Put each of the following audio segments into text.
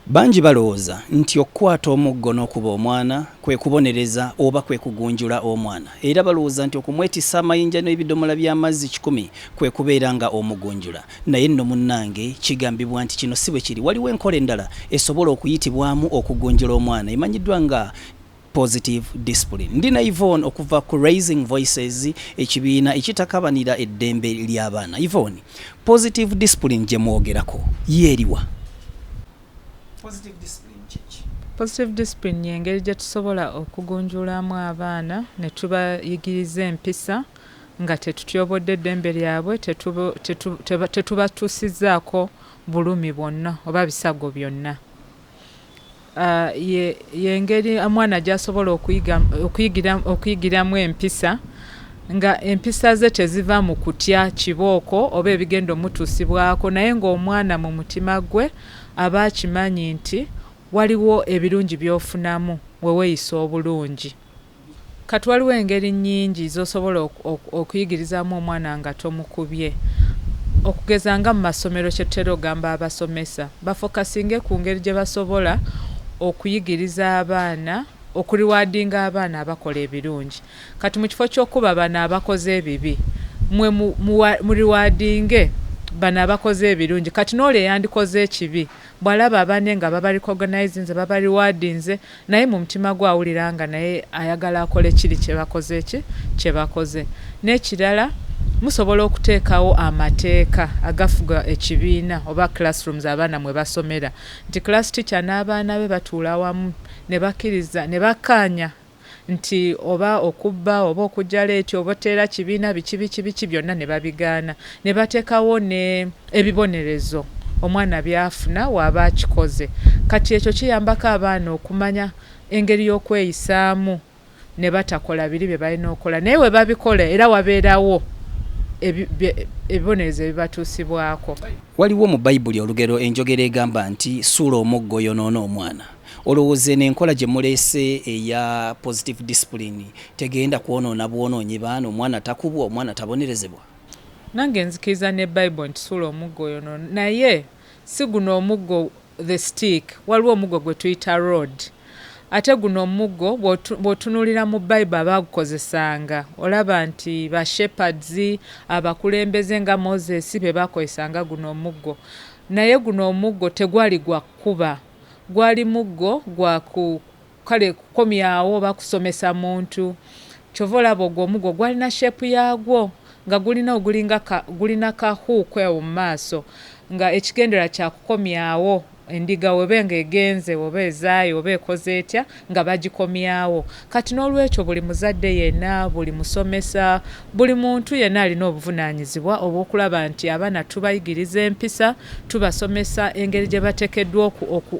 Bangi balowooza nti okukwata omuggo n'okuba omwana kwe kubonereza oba kwe kugunjula omwana. Era balowooza nti okumwetissa amayinja n'ebidomola by'amazzi kikumi kwe kubeera nga omugunjula. Naye nno munnange, kigambibwa nti kino si bwe kiri. Waliwo enkola endala esobola okuyitibwamu okugunjula omwana emanyiddwa nga. positive discipline ndi na Yvonne okuva ku raising voices ekibiina ekitakabanira eddembe ly'abaana Yvonne positive discipline gye mwogerako yeeriwa positive discipline kyeki positive discipline yengeri gye tusobola okugunjulamu abaana ne tubayigiriza empisa nga tetutyobodde eddembe lyabwe tetubatuusizaako bulumi bwonna oba bisago byonna yengeri omwana gyasobola okuyigiramu empisa nga empisa ze teziva mu kutya kibooko oba ebigenda omutuusibwako naye ng'omwana mu mutima gwe aba akimanyi nti waliwo ebirungi by'ofunamu we weeyisa obulungi. Kati waliwo engeri nnyingi z'osobola okuyigirizaamu omwana nga tomukubye. Okugeza nga mu masomero kye tutera okugamba abasomesa bafokasinge ku ngeri gye basobola okuyigiriza abaana, okuriwaadinga abaana abakola ebirungi. Kati mu kifo ky'okukuba bano abakoze ebibi, mmwe muriwaadinge bano abakoze ebirungi. Kati n'oli eyandikoze ekibi bw'alaba abanne nga babarikoganayizinze, babariwaadinze, naye mumutima gwe awulira nga naye ayagala akole kiri kyebakoze ki kyebakoze nekirala musobola okuteekawo amateeka agafuga ekibiina oba classrooms abaana mwe basomera nti class teacher n'abaana be batuula wamu ne bakkiriza ne bakkaanya nti oba okubba oba okujja leeti oba oteera kibiina biki biki biki byonna ne babigaana ne batekawo ne ebibonerezo omwana byafuna waba akikoze kati ekyo kiyambako abaana okumanya engeri yokweyisaamu ne batakola biri bye balina okola naye we babikola era wabeerawo ebibonerezo ebibatuusibwako. Waliwo mu Baibuli olugero enjogera egamba nti suula omuggo oyonoona omwana. Olowooza eno enkola gye muleese eya positive discipline tegenda kwonoona bwonoonyi baana omwana takubwa omwana tabonerezebwa? Nange nzikiriza ne bible nti sula omuggo oyo no naye siguno omuggo the stick waliwo omuggo gwetuyita road ate guno omuggo bwotunulira mu bible abagukozesanga olaba nti ba shepherds abakulembeze nga moses bebakozesanga guno omuggo naye guno omuggo tegwali gwa kukuba gwali muggo gwa ku Kale kukomyawo oba kusomesa muntu. Kyova olaba ogwo omuggo gwalina shape yagwo nga gulina ogulinga ka gulina ka hook awo mumaaso nga ekigendererwa kyakukomyawo endiga weba nga egenze oba ezaaye oba ekoze etya nga bagikomyawo. Kati nolwekyo buli muzadde yena, buli musomesa, Buli muntu yenna alina obuvunaanyizibwa obw'okulaba nti abaana tubayigiriza empisa, tubasomesa engeri gye batekeddwa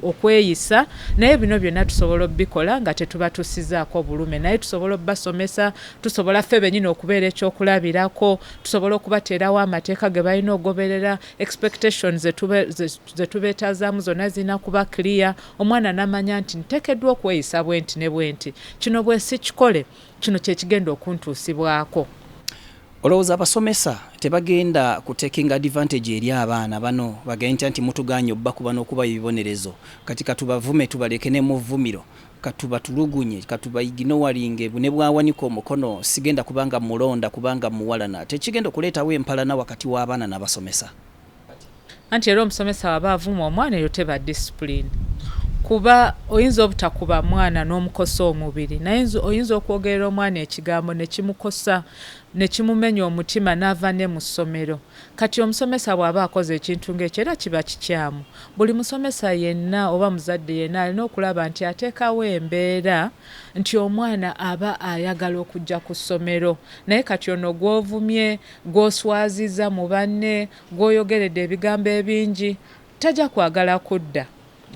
okweyisa naye bino byonna tusobola obikola nga tetubatuusizaako bulume naye tusobola obasomesa, tusobola ffe benyini okubeera eky'okulabirako, tusobola okubateerawo amateeka ge balina ogoberera, expectations ze tubeetazaamu zonna zirina kuba clear omwana namanya nti ntekeddwa okweyisa bwenti ne bwenti kino bwesikikole, Kino kye kigenda okuntuusibwako. Olowooza abasomesa tebagenda ku taking advantage eri abaana bano bagentya nti mutugaanye obbakuba n'okuba ebibonerezo kati katubavume tubaleke ne muvvumiro katubatulugunye katubaiginowalinge ne bwawanika omukono sigenda kubanga mulonda kubanga muwalana tekigenda okuleetawo empalana wakati w'abaana n'abasomesa anti era omusomesa waba avuma omwana eyo teba discipline kuba oyinza obutakuba mwana n'omukosa omubiri naye oyinza okwogerera omwana ekigambo nekimukosa nekimumenya omutima n'ava ne mu ssomero kati omusomesa bw'aba akoze ekintu ng'ekyo era kiba kikyamu buli musomesa yenna oba muzadde yenna alina okulaba nti ateekawo embeera nti omwana aba ayagala okujja ku ssomero naye kati ono gw'ovumye Gw'oswaziza mu banne, gw'oyogeredde ebigambo ebingi, tajja kwagala kudda.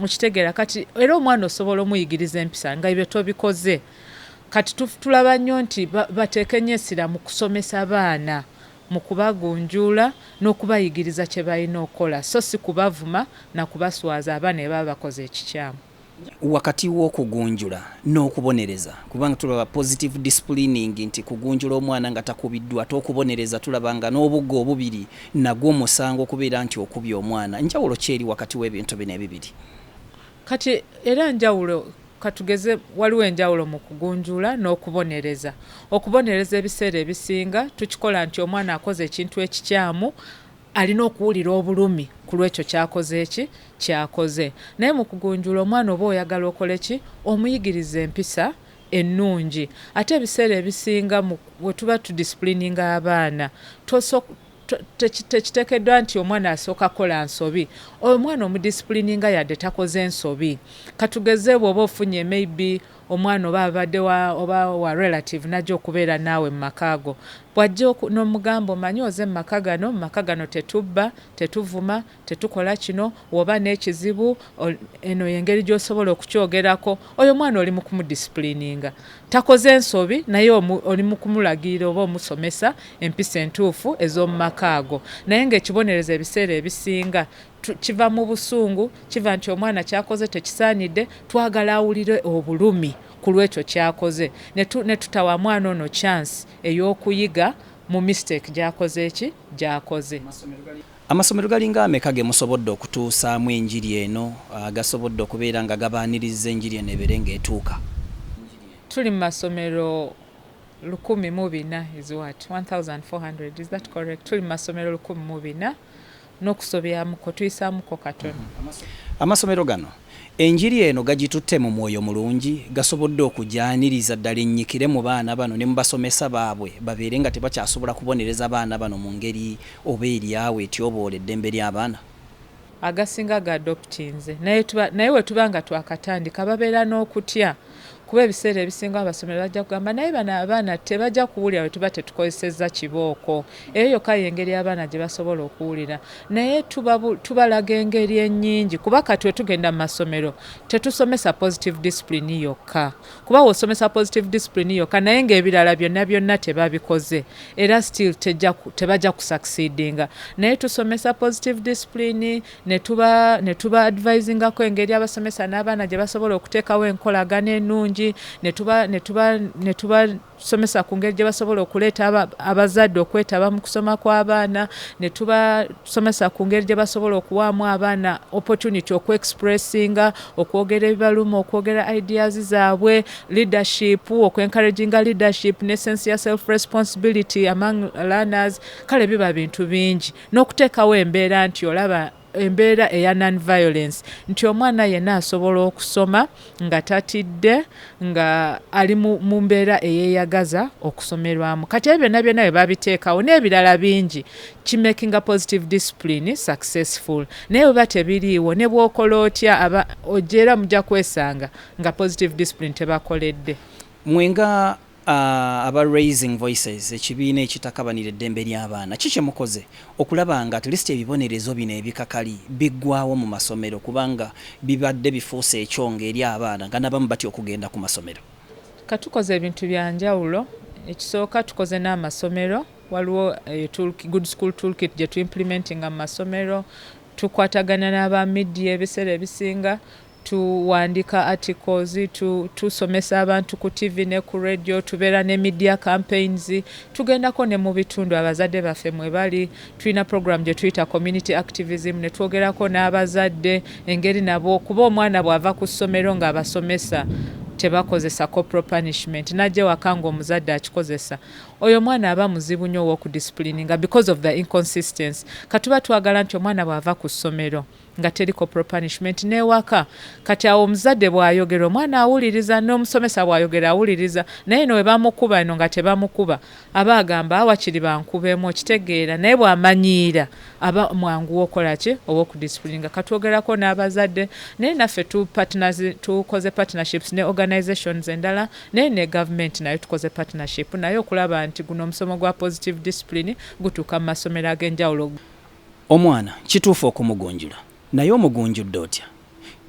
Okitegeera? Kati, era omwana osobola omuyigiriza empisa, nga ebyo tobikoze. Kati tu, tulaba nnyo nti ba, bateeka ennyo essira mu kusomesa baana, mu kubagunjuula, n'okubayigiriza kye balina okukola, so si kubavuma na kubaswaza aba ne baba bakoze ekikyamu. wakati w'okugunjula n'okubonereza kubanga tulaba positive disciplining nti kugunjula omwana nga takubiddwa ate okubonereza tulaba nga n'obugga obubiri nagwo musango okubeera nti okubye omwana njawulo kyeri wakati w'ebintu bino ebibiri kati era njawulo katugeze waliwo enjawulo mu kugunjula n'okubonereza okubonereza ebiseera ebisinga tukikola nti omwana akoze ekintu ekikyamu alina okuwulira obulumi kulwekyo kyakoze ki kyakoze naye mukugunjula omwana oba oyagala okole ki omuyigiriza empisa ennungi ate ebiseera ebisinga wetuba tudisipulininga abaana tekitekeddwa nti omwana asooka kola nsobi omwana omudisipulininga yadde takoze nsobi katugeze bwoba ofunye maybe Omwana oba abadde wa oba wa relative n'ajja okubeera naawe mu maka go. Bw'ajja oku, n'omugamba omanyi oze mu maka gano, mu maka gano tetubba, tetuvuma, tetukola kino, w'oba n'ekizibu o, eno y'engeri gy'osobola okukyogerako. Oyo omwana oli mu kumudisipuliininga. Takoze nsobi, naye omu, oli mu kumulagirira oba omusomesa empisa entuufu ez'omu maka ago. Naye nga ekibonerezo ebiseera ebisinga kiva mu busungu kiva nti omwana kyakoze tekisaanidde twagala awulire obulumi ku lwekyo kyakoze ne tutawa mwana ono chance ey'okuyiga mu mistake gyakoze ki gyakoze amasomero galinga ameka ge musobodde okutuusaamu enjiri eno ah, gasobodde okubeera nga gabaaniriza enjiri eno ebeere ng'etuuka tuli mu masomero lukumi mu bina is what 1400 is that correct tuli mu masomero lukumi mu bina n'okusobyamuko tuyisaamuko katono. Amasomero gano enjiri eno gagitutte mu mwoyo mulungi, gasobodde okugyaniriza ddala ennyikire mu baana bano ne mu basomesa baabwe babeere nga tebakyasobola kubonereza baana bano mu ngeri oba eri awo etyoboola eddembe ly'abaana. Agasinga ga adoptinze naye bwe tuba nga twakatandika babeera n'okutya. kuba ebiseera ebisinga abasomero bajja kugamba naye bano abaana tebajja kuwulira bwe tuba tetukozesezza kibooko eyo yokka yengeri abaana gye basobola okuwulira naye tubalaga engeri ennyingi kuba kati wetugenda mu masomero tetusomesa positive discipline yokka kuba wosomesa positive discipline yokka naye ngaebirala byonna byonna tebabikoze era still tebajja kusucceedinga naye tusomesa positive discipline ne tuba ne tuba advisingako engeri abasomesa n'abaana gye basobola okuteekawo enkolagana ennungi ne tuba ne tuba ne tubasomesa ku ngeri gye basobola okuleeta abazadde okwetaba mu kusoma kw'abaana ne tubasomesa ku ngeri gye basobola okuwaamu abaana opportunity okuexpressinga okwogera ebibaluma okwogera ideas zaabwe leadership okwencouraginga leadership ne sense ya self responsibility among learners kale biba bintu bingi n'okuteekawo embeera nti olaba embeera eya non violence nti omwana yenna asobola okusoma nga tatidde nga ali mu mbeera eyeyagaza okusomerwamu kati ebyo byonna byonna bye babiteekawo n'ebirala bingi kimakinga positive discipline successful naye bweba tebiriiwo ne bwokola otya aba ojeera mujja kwesanga nga positive discipline tebakoledde mwe nga Aba Raising Voices, ekibiina ekitakabanira eddembe ly'abaana, ki kye mukoze okulaba nga at least ebibonerezo bino ebikakali biggwaawo mu masomero kubanga bibadde bifuuse ekyongo eri abaana nga n'abamu batya okugenda ku masomero? Ka tukoze ebintu bya njawulo. Ekisooka tukoze n'amasomero, waliwo Good School Tool Kit gye tu implementinga mu masomero, tukwatagana n'aba media ebiseera ebisinga, Tu wandika articles, tu tu somesa abantu ku TV ne ku radio, tubera ne media campaigns, tugendako ne mu bitundu abazadde baffe mwe bali, tulina program gye tuyita community activism ne twogerako n'abazadde engeri nabo kuba omwana bwava ku ssomero nga abasomesa tebakozesa corporal punishment najja ewaka nga omuzadde akikozesa oyo omwana aba muzibu nnyo ow'okudisipulininga because of the inconsistency katuba twagala nti omwana bw'ava ku ssomero nga teri corporal punishment newaka kati awo omuzadde bwayogera omwana awuliriza n'omusomesa bwayogera awuliriza naye no webamukuba eno nga tebamukuba aba agamba awakiri bankubeemu okitegeera naye bwamanyiira aba mwanguwa okola ki oba okudisipulinga katwogerako n'abazadde naye naffe tukoze partnerships ne organizations endala naye ne gavumenti nayo tukoze partnership naye okulaba nti guno omusomo gwa positive discipline gutuuka mu masomero ag'enjawulo Omwana kituufu okumugunjula naye omugunjudde otya?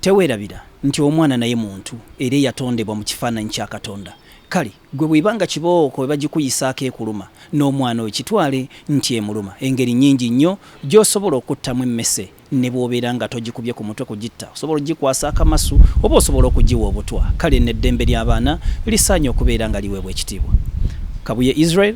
Tewerabira nti omwana naye muntu era eyatondebwa mu kifaananyi kya Katonda. Kale ggwe bw'eba nga kibooko ebagikuyisaako ekuluma, n'omwana oyo kitwale nti emuluma. Engeri nnyingi nnyo gy'osobola okuttamu emmese ne bw'obeera nga togikubye ku mutwe kugitta. Osobola okugikwasa akamasu oba osobola okugiwa obutwa. Kale nno eddembe ly'abaana lisaanye okubeera nga liweebwa ekitiibwa. Kabuye Israel.